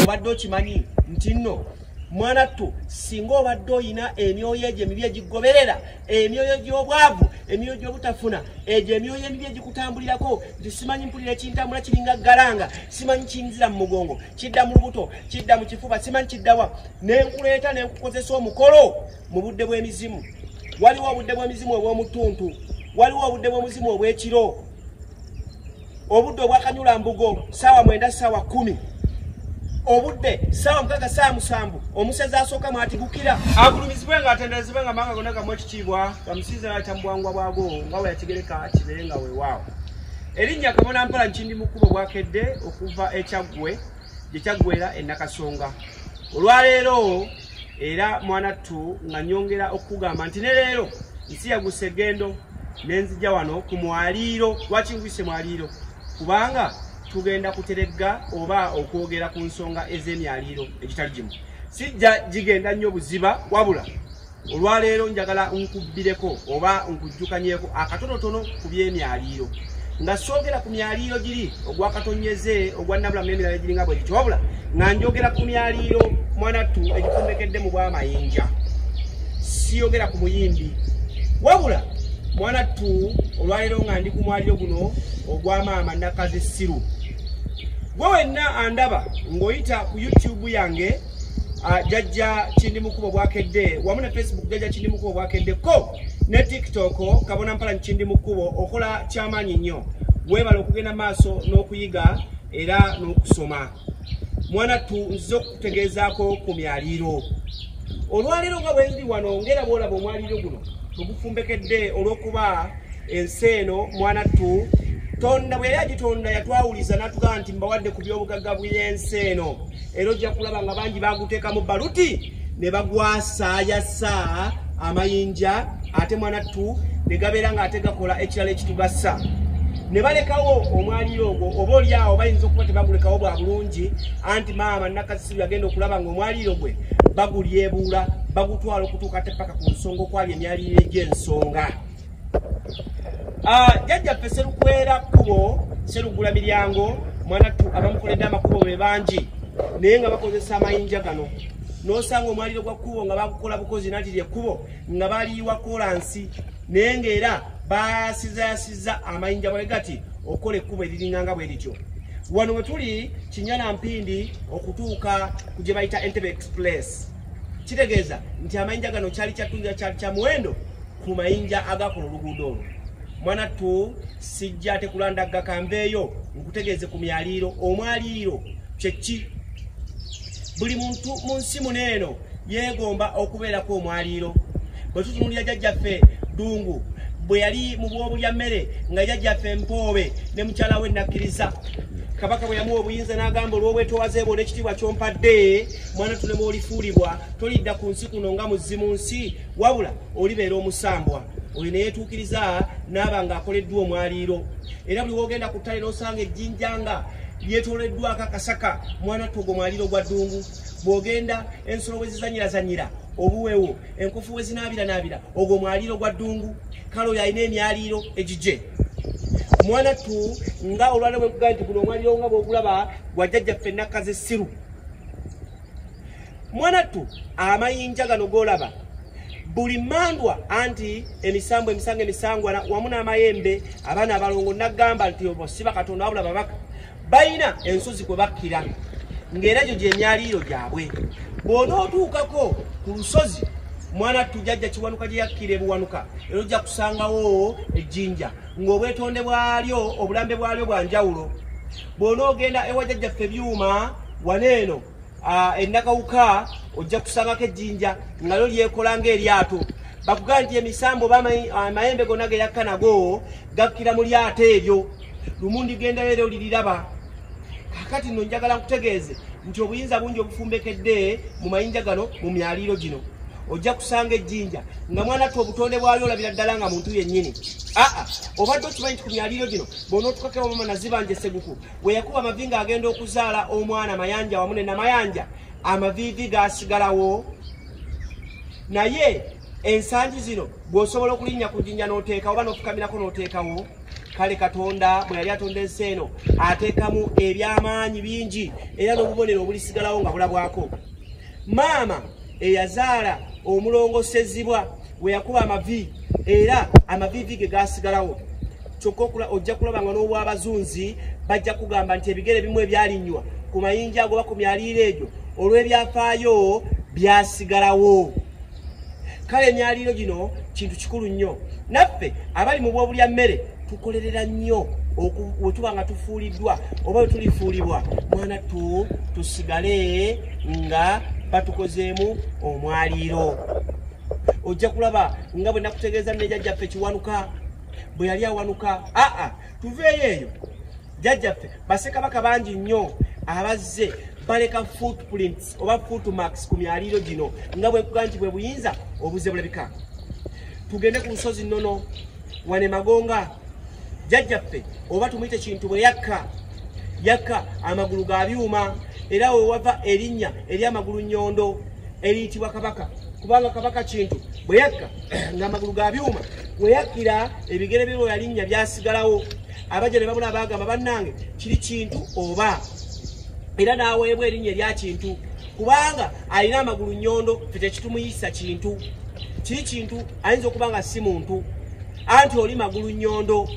obadde okimanyi nti nno mwana ttu singa obadde olina emyoyo egyo emibi egigoberera emyoyo gy'obwavu emyoyo gy'obutafuna egyo emyoyo emibi egikutambulirako nti simanyi mpulira ekintambula kiringa galanga simanyi kiyinzira mu mugongo kidda mu lubuto kidda mu kifuba simanyi kiddawa ne nkuleeta ne nkukozesa omukolo mu budde bw'emizimu waliwo obudde bw'emizimu obw'omutuntu waliwo obudde bw'omuzimu obw'ekiro obudde obwakanyula mbugo saawa mwenda saawa kumi obudde saawa mukaga saawa musanvu omusezi asooka mwatigukira agulumizibwe nga atenderezibwe nga manga gona gamu ekitiibwa bamusinze nayita mubwangwa bwago nga weyakigereka kibere nga wewaawo erinnya kabona mpala nkindi mukubo bwakedde okuva ekyaggwe gye kyaggwera enakasonga olwaleero era mwana ttu nga nyongera okukugamba nti ne leero nsi yagusa egendo nenzija wano ku mwaliiro lwaki nkuyise mwaliiro kubanga tugenda kuteregga oba okwogera ku nsonga ez'emyaliiro egitali gimu sijja gigenda nnyo buziba wabula olwaleero njagala nkubbireko oba nkujjukanyeko akatonotono ku by'emyaliiro nga soogera ku myaliiro giri ogwa katonyeze ogwa nabulamu n'emirala egiringa bwe gityo wabula nga njogera ku myaliiro mwanattu egikombekedde mu bwamayinja siyogera ku muyimbi wabula mwanattu olwaleero nga ndi ku mwaliiro guno ogwa maama nakazi siru gwe wenna andaba ng'oyita ku youtube yange ah, jajja kindimukuba obwakedde wamu ne facebook jajja kindimukuba obwakeddeko ne tiktok kabona mpala nkindi mu kkubo okola kyamaanyi nnyo weebala okugenda maaso n'okuyiga era n'okusoma mwana tu nziza okukutegeezaako ku myaliiro olwaleero nga bwendi wano ngera bwolaba omwaliiro guno tugufumbekedde olw'okuba ensi eno mwana tu tonda bwe yali agitonda yatwawuliza n'atugamba nti mbawadde ku by'obugagga bw'ensi eno era ojja kulaba nga bangi baguteekamu baluti ne bagwasaayasa amayinja ate mwanattu ne gabeera ng'ate gakola ekirala ekitugasa ne balekawo omwaliiro ogwo oba oli awo bayinza okuba tebagulekawo bwa bulungi anti maama nakasiru yagenda okulaba ng'omwaliiro gwe bagulyebuula bagutwala okutuuka te paka ku nsonga okwali emyaliiro egy'ensonga Ah, jajjaffe serukwera kkubo serugula miryango mwanattu abamukoledde amakubo be bangi naye nga bakozesa amayinja gano nosanga omwaliro gwa kkubo nga bakukola bukozi nati lyekkubo nga baliyiwa kolansi naye ngaera basizayasiza amayinja bwe gati okukola ekkubo eriringanga bwe lityo wano we tuli kinyana mpindi okutuuka ku gye bayita entebe express kitegeeza nti amayinja gano kyali kyattunza kyali kya muwendo ku mayinja agakola oluguudo olwo mwanattu sijja tekulandagga kambeeyo nkutegeeze ku myaliiro omwaliiro kyekki buli muntu mu nsi muno eno yeegomba okubeerako omwaliiro bwe tutunulira jajjaffe ddungu bwe yali mu bwobulya mmere nga jajjaffe mpoobe ne mukyala we nakkiriza kabaka bwe yamuwa obuyinza n'agamba olw'obwetowaze bwo n'ekitiibwa kyompadde mwana tunemwolifuulibwa tolidda ku nsi kuno nga muzzi mu nsi wabula olibeera omusambwa oyo neyetuukiriza naaba nga akoleddwa omwaliiro era buli wogenda ku ttale nosanga ejjinja nga lyetoleddwako akasaka mwana togo mwaliiro gwa ddungu bwogenda ensolo wezizanyirazanyira obuwewo enkufu wezinaabiranaabira ogwo mwaliiro gwa ddungu kale oyo alina emyaliiro egigye mwana tu nga olwala bwekugaa nti guno omwaliiro nga bwogulaba gwajjajjaffe nakkazi essiru mwanattu amayinja gano golaba buli mandwa anti emisambo emisango emisangwana wamu n'amayembe abaana abalongo nagamba nti obo siba katonda wabula babaka balina ensozi kwe bakkira ng'era gyo gyemyaliiro gyabwe bw'onootuukako ku lusozi mwana tujajja kiwanuka gye yakkira ebuwanuka era ojja kusangawo ejjinja ng'obwetonde bwalyo obulambe bwalyo bwa njawulo bw'onoogenda ewa jajjaffe byuma wano eno ennakawuka ojja kusangako ejjinja nga lyo lyekola ng'eryato bakugamba nti emisambo oba amayembe gonna ge yakka nago gakkira mu lyato eryo lumu ndigendayo era oliriraba kakati no njagala nkutegeeze nti obuyinza bungi obufumbekedde mu mayinja gano mu myaliiro gino ojja kusanga ejjinja nga mwana ttu obutonde bwayo olabira ddala nga muntu yennyini aa obadde okimanyi nti ku myaliiro gino bonaotukakeo mama nazibanja eseguku weyakuba amavi nga agenda okuzaala omwana mayanja wamu nenamayanja amaviivi gasigalawo naye ensangi zino bw'osobola okulinnya ku jjinja n'oteekawo oba n'ofukamirako n'oteekawo kale katonda bwe yali atonda ensi eno ateekamu ebyamaanyi bingi era n'obubonero obulisigalawo nga bulabwako maama eyazaala omulongosezibwa we yakuba amavi era amavivi ge gaasigalawo kyokka ojja kulaba nga n'obwabazunzi bajja kugamba nti ebigere bimu ebyalinywa ku mayinja agoba ku myaliiro egyo olw'ebyafaayo byasigalawo kale emyaliiro gino kintu kikulu nnyo naffe abali mu bwobulya mmere tukolerera nnyo bwe tuba nga tufuuliddwa oba bwe tulifuulibwa mwana tu tusigale nga batukozeemu omwaliiro ojja kulaba nga bwe nakutegeeza nejajjaffe kiwanuka bwe yali awanuka aa tuveeyo eyo jjajjaffe basekabaka bangi nnyo abazze baleka footprints oba footmarks ku myaliiro gino nga bwekuga nti bwe buyinza obuze bulabika tugende ku nsozi nnono wane magonga jjajjaffe oba tumuyite kintu bwe yakka yakka amagulu ga byuma era we wava erinnya eri amagulu nnyondo eriyitibwa kabaka kubanga kabaka kintu bwe yakka ng'amagulu ga byuma we yakkira ebigere bye bwe yalinnya byasigalawo abajja ne babula baagamba bannange kiri kintu oba era n'aweebwa erinnya erya kintu kubanga alina amagulu nnyondo fe tekitumuyisa kintu kiri kintu ayinza okuba nga si muntu anti oli magulu nnyondo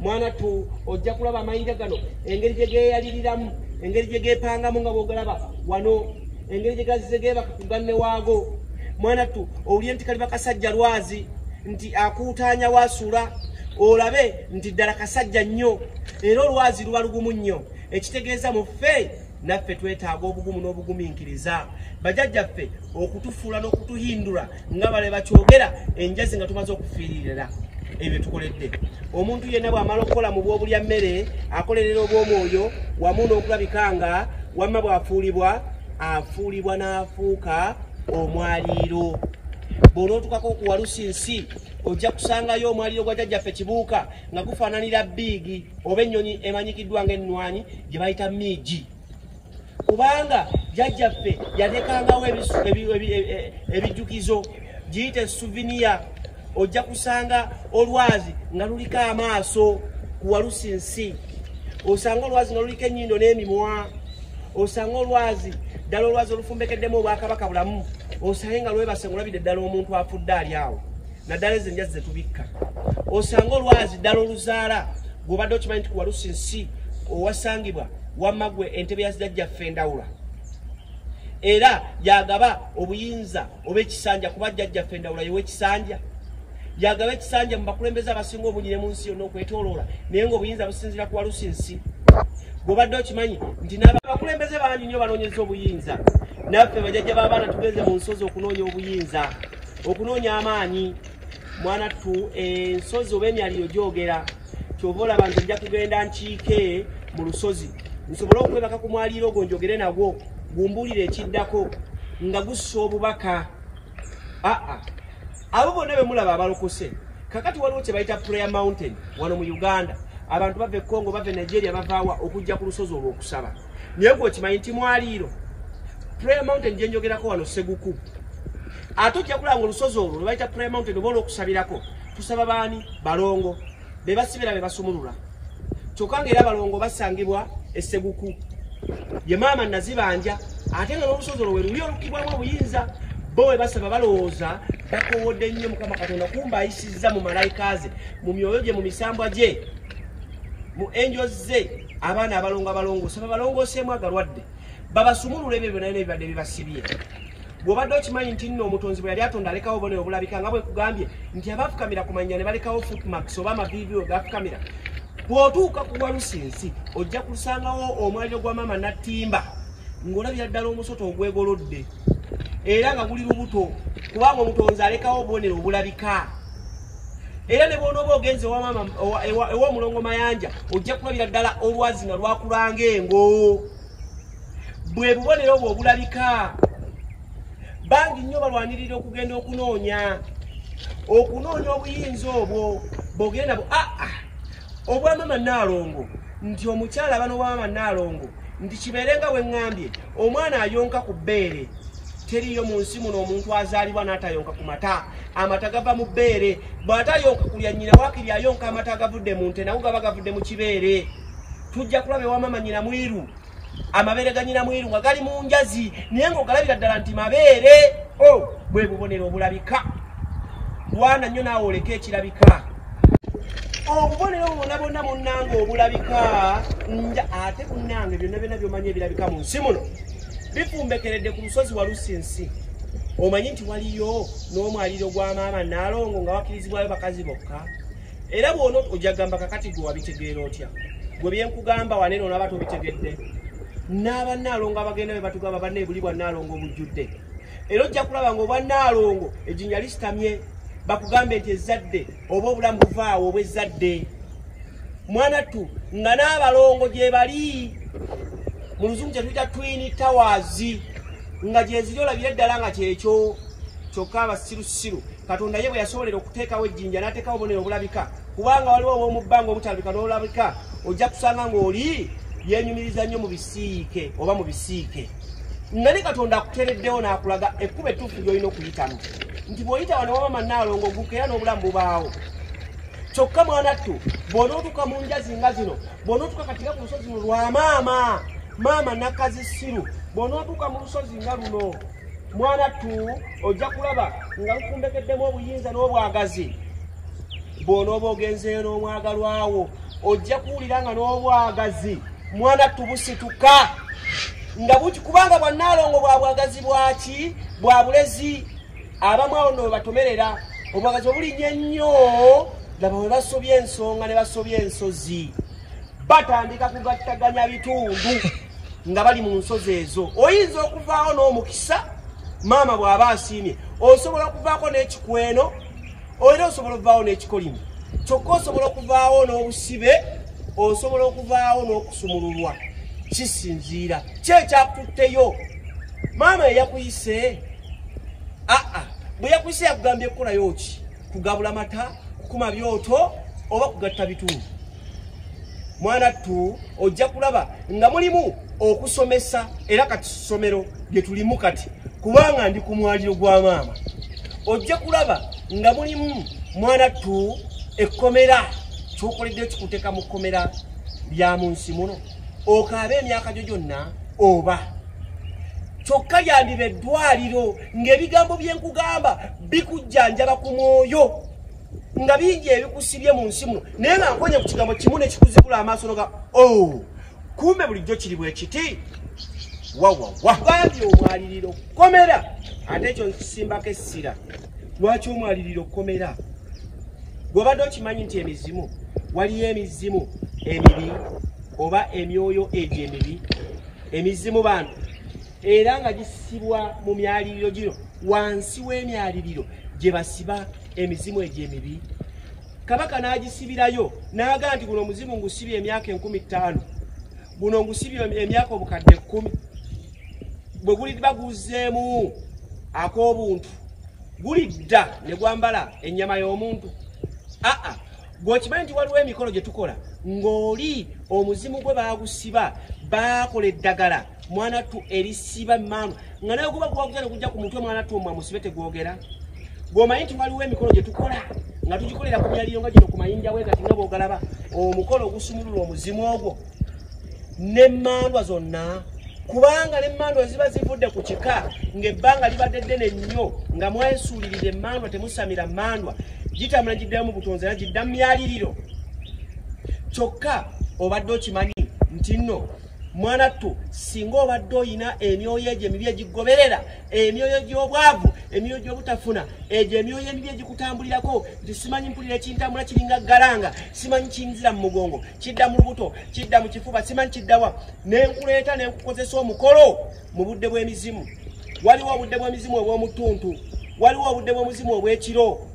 mwana tu ojja kulaba amayinja gano engeri gye geeyaliriramu engeri gye geepangamu nga bwogalaba wano engeri gye gazze geebaka ku ganne waago mwana tu owulire nti kali bakasajja lwazi nti akuutaanya waasuula olabe nti ddala kasajja nnyo era olwazi luba lugumu nnyo ekitegeeza mu ffe naffe twetaaga obugumu n'obugumiikiriza bajajjaffe okutufuula n'okutuhindula nga bale bakyogera enjazi nga tumaze okufiiririra ebyo tukoledde omuntu yenna bw'amala okukola mu bw'obulya mmere akolerera obw'omwoyo wamu n'okulabika nga wamma bw'afuulibwa afuulibwa n'afuuka omwaliiro bw'onootukako okuwalusa ensi ojja kusangayo omwaliiro gwa jajjaffe kibuuka nga gufaananira biigi oba ennyonyi emanyikiddwa nga ennwanyi gye bayita miigi kubanga jajjaffe yatekangawo e, e, e, ebijjukizo giyite suviniya ojja kusanga olwazi nga luliko amaaso kuwalusi nsi osanga olwazi nga luliko ennyindo n'emimwa osanga olwazi ddala olwazi olufumbekeddemu obwakabaka bulamu osange nga lwebase ngolabidde ddala omuntu afudde ali awo naddala ezo enjazi zetubikka osanga olwazi ddala oluzaala gwobadde okimanyi nti kuwalusi nsi owasangibwa wamagwe entebe yazijajjaffe endawula era yagaba obuyinza oba ekisanja kuba jjajjaffe endawula yewa ekisanja yagaba ekisanja mu bakulembeze abasinga obunyi ne mu nsi yonna okwetoloola naye ngaobuyinza businzira ku walusi nsi gwobadde okimanyi nti nabakulembeze bangi nyo banoonyeza obuyinza naffe bajajja b'abaana tugenze mu nsozi okunoonya obuyinza okunoonya amaanyi mwana tu ensozi oba emyaliyo gyogera kyova olaba nze nja kugenda nkiike mu lusozi nsobole okwebaka ku mwaliiro ogwo njogere nagwo gumbulire ekiddako nga gussa obubaka aa abo bonna bemulaba abalokose kakati waliwo kyebayita prayer mountain wano mu uganda abantu bava ekongo bava enigeria bavaawa okujja ku lusozi olwokusaba naye gwe okimanyi nti mwaliiro prayer mountain gyenjogerako wano seguku ate ojja kulaba nga olusozi olwo lwebayita prayer mountain oba olwokusabirako tusaba baani balongo be basibira be basumulula kyokka ngaera balongo basangibwa esseguku ye maama nazibanja ate nga n'olusozi olwo weruli olukibwamu obuyinza bo we basaba balowooza bakowodde nnyo mukama katonda kumba ayisizza mu malayika ze mu myoyo gye mu misambwa gye mu enjo ze abaana abalongo abalongoosa babalongooseemu agalwadde babasumulula ebyo byona byona ebibadde bibasibye bw'obadde okimanyi nti nno omutonzi bwe yali atonda alekawo obone obulabika nga bwe nkugambye nti abafukamira ku mannya ne balekawo footmarks oba amaviivi we gafukamira bw'otuuka ku walusi ensi ojja kusangawo omwaliro gwa maama nattimba ng'olabira ddala omusota ogwegolodde era nga guli lubuto kubanga omutonzi alekawo obubonero obulabika era ne bwonooba ogenze ew'omulongo mayanja ojja kulabira ddala olwazi nga lwakulanga engo bwe bubonero obwo obulabika bangi nnyo balwanirira okugenda okunoonya okunoonya obuyinza obwo bogere nabo aa ah, ah, obwamama naalongo nti omukyala aba nobwamama naalongo nti kibeere nga weŋŋambye omwana ayonka ku bbeere teriiyo mu nsi muno omuntu azaalibwa n'atayonka ku mata amata gava mu bbeere bw'atayonka kulya nnyina waakiri ayonka amata agavudde mu nte nago gaba gavudde mu kibeere tujja kulaba ewamama nyina mwiru amabeere ganyina mwiru nga gali mu njazi naye ngaogalabira ddala nti mabeere o oh, bwe bubonero obulabika wana nnyo naawe oleka ekirabika obubonero bona bonna munnange obulabika nja ate munnange byonna byonna byomanya ebirabika mu nsi muno bifumbekeredde ku lusozi walusi nsi omanyi nti waliyo n'omwaliro gwa maama naalongo nga wakirizibwayo bakazi bokka era bwona ojja gamba kakati gwe wabitegeera otya gwe byenkugamba wanene onaba tobitegedde n'aba naalongo abagenda be batugamba banna ebuli bwa naalongo obujjudde era ojja kulaba nga obwa naalongo ejinya lisitamye bakugambe nti ezzadde oba obulamu buvaawo obwa ezzadde mwanattu nga n'abalongo gyebali mu luzungu kyetuyita twini tawazi nga gyeziri olabire ddala nga kyekyo kyokka abasirusiru katonda ye bwe yasobolera okuteekawo ejjinja n'ateekawo obonero obulabika kubanga waliwo ow'omu bbanga obutalabika n'olabika ojja kusanga ng'oli yenyumiriza nnyo mu bisiike oba mu bisiike nga ne katonda akutereddewo n'akulaga ekkuba ettuufu ly'olina okuyitamu nti bw'oyita wano waba mannaalongo oguka era n'obulamu bubaawo kyokka mwanattu bw'onootuuka mu njazi nga zino bw'onootuuka katika ku lusozi luno lwa maama maama nakazisiru bw'onootuuka mu lusozi nga luno mwana tu ojja kulaba nga lukumbekeddemu obuyinza n'obwagazi bw'onooba ogenzeeyo n'omwagalwawo ojja kuwulira nga n'obwagazi mwana tu busituka nga buti kubanga bwannaalongo bwa bwagazi bwaki bwa bulezi abamu awo no webatomerera obwagazi obulinya ennyo laba we basobya ensonga ne basobya ensozi batandika kugattaganya bitundu nga bali mu nsozi ezo oyinza okuvaawo n'omukisa maama bw'aba asiimye osobola okuvaako n'ekikweno era osobola okuvaawo n'ekikolimo kyokka osobola okuvaawo n'obusibe osobola okuvaawo n'okusumululwa kisinziira kyekyakutteyo maama eyakuyise aa bwe yakuyise yakugambye kukolayo ki kugabula mata kukuma byoto oba kugatta bitundu mwana tu ojja kulaba nga mulimu okusomesa era kati ssomero lye tulimu kati kubanga ndi ku mwaliro gwa maama ojja kulaba nga mulimu mwana tu ekkomera kyokoledde kikuteeka mu kkomera lya mu nsi muno okaaba emyaka gyo gyonna oba kyokka lyandiba eddwaliro ng'ebigambo bye nkugamba bikujjanjaba ku mwoyo nga bingi ebikusibye mu nsi muno naye nga nkonye ku kigambo kimu nekikuzibula amaaso noga o oh, kumbe bulijjo kiri bwekiti wawawabambi omwaliriro kukomera ate ekyo nkisimbako essira lwaki omwaliriro kukomera gwobadde okimanyi nti emizimu waliyo emizimu emibi oba emyoyo egyo emibi emizimu bantu era nga gisibwa mu myaliriro gino wansi w'emyaliriro gye basiba emizimu egyo emibi kabaka n'agisibirayo n'aga nti guno omuzimu ngusibye emyaka enkumi ttaano guno ngusibye emyaka obukadde ekkumi bwe guliba guzzeemu ak'obuntu gulidda ne gwambala ennyama y'omuntu aa gweokimanyi nti waliwo emikolo gye tukola ng'oli omuzimu gwe baagusiba baakola eddagala mwana tu erisiba maama nga naye guba gwakugenda kujja ku mutwe mwana tu omwa musibe tegwogera gwomanyi nti waliwo emikolo gye tukola nga tugikolera ku myaliyo nga gino ku mayinja we kati nga bwogalaba omukolo ogusumulula omuzimu ogwo n'emmandwa zonna kubanga n'emmandwa ziba zivudde ku kika ng'ebbanga libadde ddene nnyo nga mwesuulirira emmandwa temusamira mmandwa gitambula giddayo mu butonzi era gidda mu myaliriro kyokka obadde okimanyi nti nno mwanattu singa obadde olina emyoyo egyo emibi egigoberera emyoyo gy'obwavu emyoyo gy'obutafuna egyo emyoyo emibi egikutambulirako nti simanyi mpulira ekintambula kiringa galanga simanyi kiyinzira mu mugongo kidda mu lubuto kidda mu kifuba simanyi kiddawa nenkuleeta nenkukozesa omukolo mu budde bw'emizimu waliwo obudde bw'emizimu obw'omutuntu waliwo obudde bw'omuzimu obw'ekiro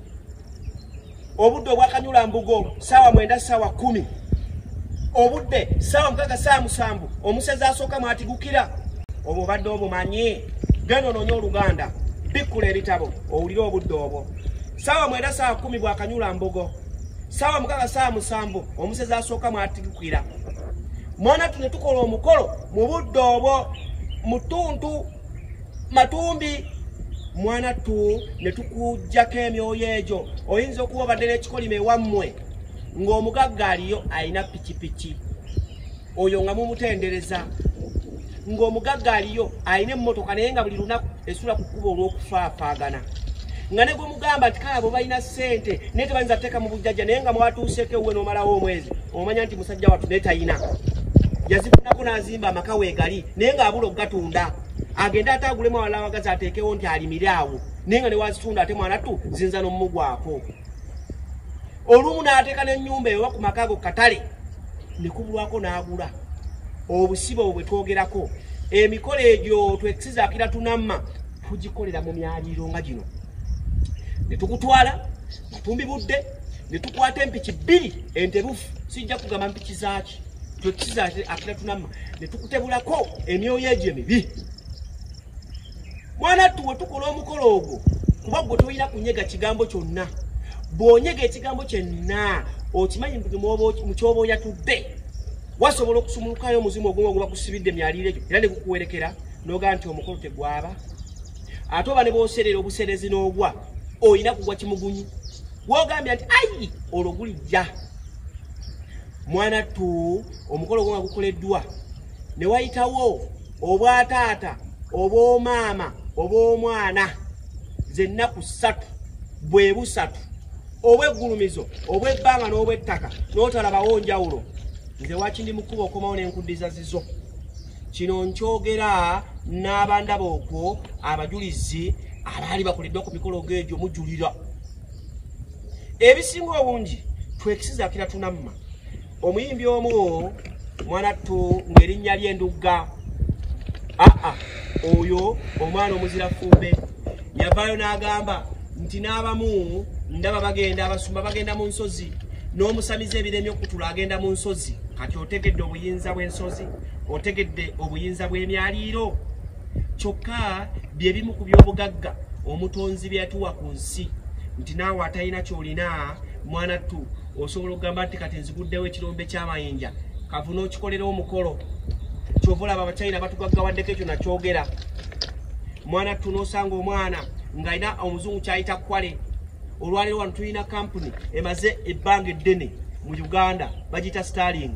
obudde obwakanyula mbugo saawa mwenda saawa kumi obudde saawa mukaga saawa musanvu omusezi asooka mwatigukira obwo obadde obumanyi genda ononye oluganda bikkula ebitabo owulire obudde obwo saawa mwenda saawa kumi bwakanyula mbugo saawa mukaga saawa musanvu omusezi asooka mwatigukira mwana tune tukola omukolo mu budde obwo mutuntu matumbi mwana tu ne tukujjako emyoyo egyo oyinza okuba obadde n'ekikolimo ewammwe ng'omugagga aliyo alina pikipiki oyo nga mumutendereza ng'omugagga aliyo alina emmotoka naye nga buli lunaku esula ku kkuba olw'okufaafaagana nga ne gwe mugamba nti kale abo balina ssente naye tebayinza teeka mu bujjajja naye nga mwatuuseeko ewuwe n'omalawo omwezi omanya nti musajja wattu naye talina yazifunako n'azimba amaka weegali naye ng'abula okugatunda agende ate agulemu awalala wagazi ateekewo nti alimire awo naye nga newazitunda ate mwana tu zinza nomumugwako olumu n'ateeka n'ennyumba ewa ku maka ago katale ne kubulwako n'agula obusibe obwo bwe twogerako emikolo egyo twekisizaakira tunamma tugikolera mu myaliiro nga gino ne tukutwala matumbi budde ne tukwata empiki bbiri enterufu sijja kugamba mpiki zaaki twekisizaakira tunamma ne tukutebulako emyoyo egyo emibi mwana ttu we tukola omukolo ogwo kuba gwe tolina kunyega kigambo kyonna bw'onyega ekigambo kyenna okimanyi mukyoba oyatudde wasobola okusumulukayo omuzimu ogumu oguba kusibidde myaliiro egyo era ne gukuwerekera noga nti omukolo tegwaba ate oba ne bwoserera obuserezi n'ogwa olina kugwa kimugunyi wogambye nti ayi olwo gulijja mwana tu omukolo gwo nga gukoleddwa ne wayitawo obwataata obw'omaama obw'omwana zennaku ssatu bwe busatu obweggulumizo obw'ebbanga n'obw'ettaka n'otalabawo njawulo nze waki ndi mukuba okomawo n'enkuddiza zizo kino nkyogera n'abandaba okwo abajulizi abaali bakoleddwa ku mikolo geegyo mujulira ebisinga obungi twekisizakira tunamma omuyimbi omu mwanattu ng'erinnya ly'endugga aa oyo omwana omuzira fumbe yavaayo n'agamba nti n'abamu ndaba bagenda abasumba bagenda mu nsozi n'omusamize ebiremye okutula agenda mu nsozi kati otegedde obuyinza bw'ensozi otegedde obuyinza bw'emyaliiro kyokka bye bimu ku by'obugagga omutonzi bye yatuwa ku nsi nti naawe atalina kyolina mwana ttu osobola okugamba nti kati nziguddewo ekirombe kyamayinja kavu n'okikolera omukolo kyova olaba abachina batugaggawaddeko ekyo nakyogera mwana ttu n'osanga omwana ng'alina omuzungu kyayita kwale olwaleero wano tulina kampuni emaze ebbanga eddene mu uganda bagiyita starling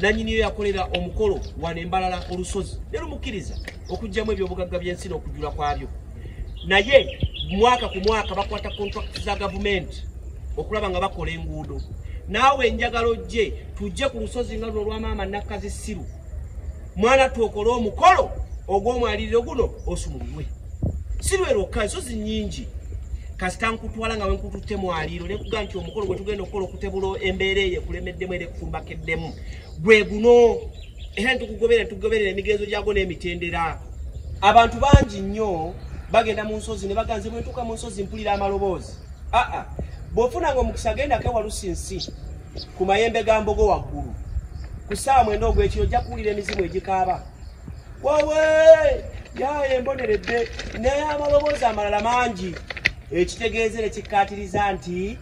nanyiniyo yakolera omukolo wano embalala olusozi ne lumukkiriza okugyamu ebyobugagga by'ensi n'okujula kwabyo naye mwaka ku mwaka bakwata contract za gavumenti okulaba nga bakola enguudo naawe enjagala ojje tujje ku lusozi nga luno lwamaama nakkazi ssiru mwana twokole omukolo ogw'omwaliriro guno osumululwe si lwerokka ensozi nnyingi kasita nkutwala nga wenkututte mwaliiro nekuga nti omukolo gwetugenda okukola okutebula embeera eyo ekulemeddemu era ekukumbakeddemu gwe guno era netukugoberera netukugoberera emigenzo gyagwo n'emitendera abantu bangi nnyo bagenda mu nsozi ne baganze bwentuuka mu nsozi mpulira amaloboozi aa bwofuna nga omukisa agenda kewalusi nsi ku mayembe ga mbogo waggulu ku ssaawa mwenda ogwekiro ojja kuwulira emizimu egikaaba wawe yaye emboneredde naye amaloboozi amalala mangi ekitegeeza ne kikkaatiriza nti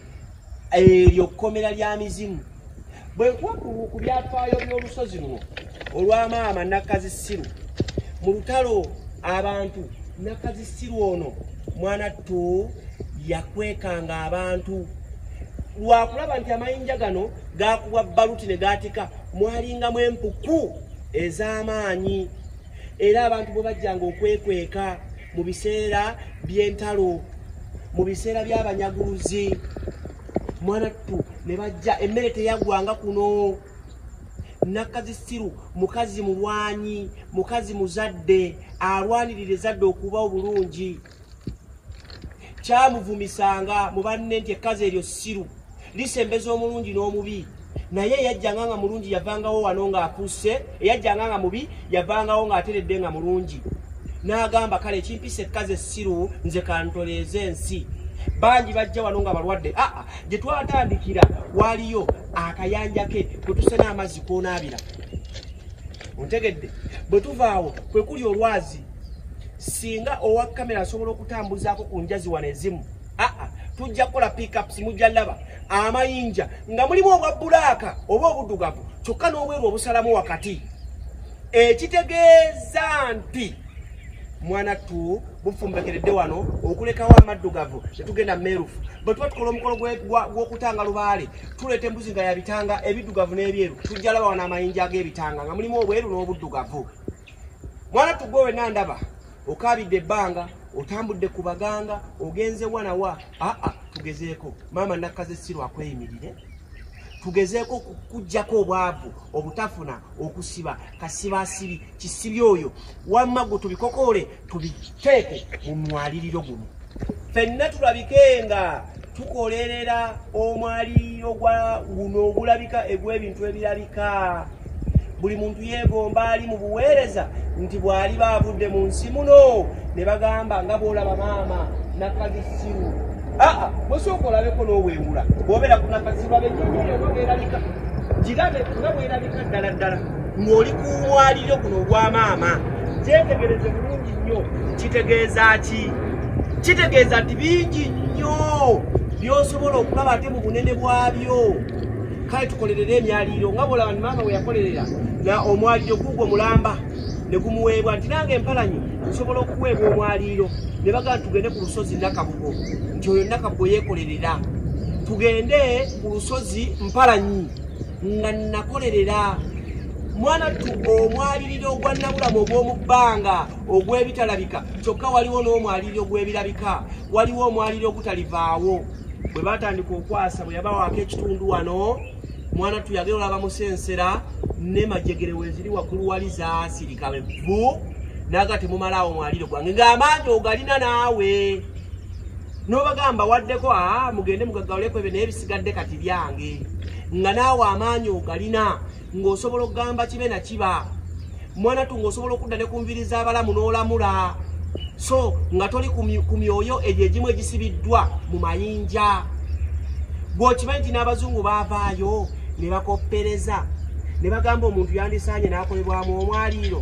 eryo kkomera lya mizimu bwe nkuwa ku byafaayo by'olusozi luno olwa maama nakazisiru mu lutalo abantu nakazisiru ono mwana ttu yakwekanga abantu lwakulaba nti amayinja gano gakubwa baluti ne gaatika mwalingamu empuku ez'amaanyi era abantu bwe bajjanga okwekweka mu biseera by'entalo mu biseera by'abanyaguluzi mwana ttu ne bajja emmere teyaggwanga kuno nakazi siru mukazi mulwanyi mukazi muzadde alwanirira ezadde okuba obulungi kyamuvumisanga mu banne nti ekkazi eryo siru lisembeza omulungi n'omubi naye eyajjanga nga mulungi yavangawo wano ng'akusse eyajjanga nga mubi yavangawo ng'ateredde nga mulungi n'agamba kale ekimpisa ekkazi essiru nze kantoleeza ensi bangi bajja wano nga balwadde aa ah, ah, gye twatandikira waliyo akayanja ke kwe tusena amazzi koonaabira ontegedde bwe tuvaawo kwe kuli olwazi singa owa kamera asobola okutambuzaako ku njazi wano ezimu ah, ah, tujja kukola pickups mujja laba amayinja nga mulimu obwa bulaaka oba obudugavu kyokka n'obweru obusalamu wakati ekitegeeza nti mwana tu bufumbekeredde wano okulekawo amaddugavu tetugenda meerufu bwe tuba tukola omukolo gw'okutanga lubaale tuleeta embuzi nga yabitanga ebiddugavu n'ebyeru tujja laba wano amayinja ag'ebitanga nga mulimu obweru n'obuddugavu mwana tugwe wena ndaba okabidde ebbanga otambudde ku baganga ogenze wanawa aa tugezeeko maama nakkaze siru akweyimirire tugezeeko kujjako obwavu obutafuna okusiba kasiba asibi kisibi oyo wamma gwe tubikokoole tubiteeke mu mwaliriro guno fenna tulabike nga tukolerera omwaliriro gwa guno ogulabika egw'ebintu ebirabika buli muntu yeegomba ali mu buweereza nti bw'ali baavudde mu nsi muno ne bagamba nga bw'olaba maama nakagisiru aa bwesooka olabeko n'obwengula bwobeera ku nakasiru abenyonyoyo nga bwerabika girabe nga bwerabika ddala ddala ng'oli ku mwaliryo guno ogwa maama kyetegereze bulungi nnyo kitegeeza ki kitegeeza nti bingi nnyo byosobola okulaba ate mu bunene bwabyo kale tukolerere emyaliiro nga bwolaba ni maama weyakolerera na omwaliro guugwo mulamba ne gumuweebwa nti nange empalanyi nsobola okuweebwa omwaliiro ne bagala tugende ku lusozi nakabugo nti oyo nakabugo yeekolerera tugende ku lusozi mpalanyi nga nakolerera mwana tu omwaliriro ogwannabulamu ogw'omu bbanga ogw'ebitalabika kyokka waliwo n'omwaliriro ogw'ebirabika waliwo omwaliriro ogutalivaawo bwe batandika okwasa bwe yabawaako ekitundu wano mwana tu yagera olaba musensera ne majegere weziri waggulu wali zaasirika bevvu naga temumalaawo mwaliro gwange ng'amaanyi ogalina naawe nobagamba waddeko aa mugende mugagawuleko ebyo naye bisigadde kati byange nga naawe amaanyi ogalina ng'osobola okugamba kibe na kiba mwana tu ng'osobola okudda ne ku nviri z'abalamu n'olamula so nga toli ku myoyo egyo egimu egisibiddwa mu mayinja gweokimanyi nti n'abazungu baavaayo ne bakoppereza ne bagamba omuntu yandisaanye n'akolebwamu omwaliiro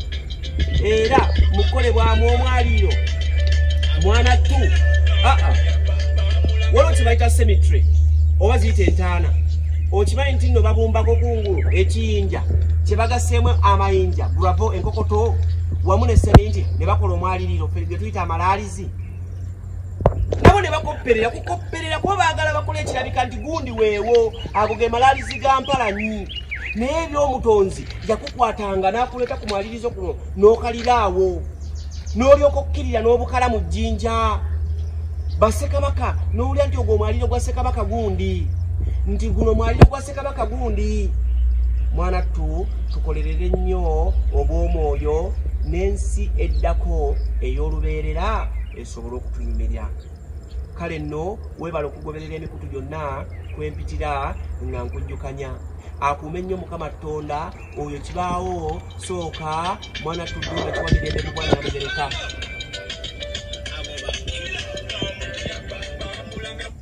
era mu kukolebwamu omwaliiro mwana tu aa ah, ah. waliwo kibayita semitry oba ziyita entaana okimanyi nti nno babumbako kungulu ekiyinja kye bagaseemu amayinja guravo enkokoto wamu ne seminti ne bakola omwaliriro ge tuyita amalaalizi nabo ne bakopperera kukopperera kuba baagala bakola ekirabika nti gundi weewo ago ge malaalizi ga mpalanyi naye ebyomutonzi yakukwatanga n'akuleeta ku mwalirizo kuno n'okalira awo n'olyoka okukkirira n'obukala mu jjinja basekabaka n'owulira nti ogwo omwaliro gwa sekabaka gundi nti guno mwaliro gwa Kabaka gundi mwana tu tukolerere nnyo obw'omwoyo n'ensi eddako ey'olubeerera esobole okutunyumirya kale nno weebala okugoberera emikutu gyonna kwempitira nga nkujjukanya akuume nnyo mukama ttonda oyo kibaawo sooka mwana tuddu nga kiwamirembe mu bwana mubereka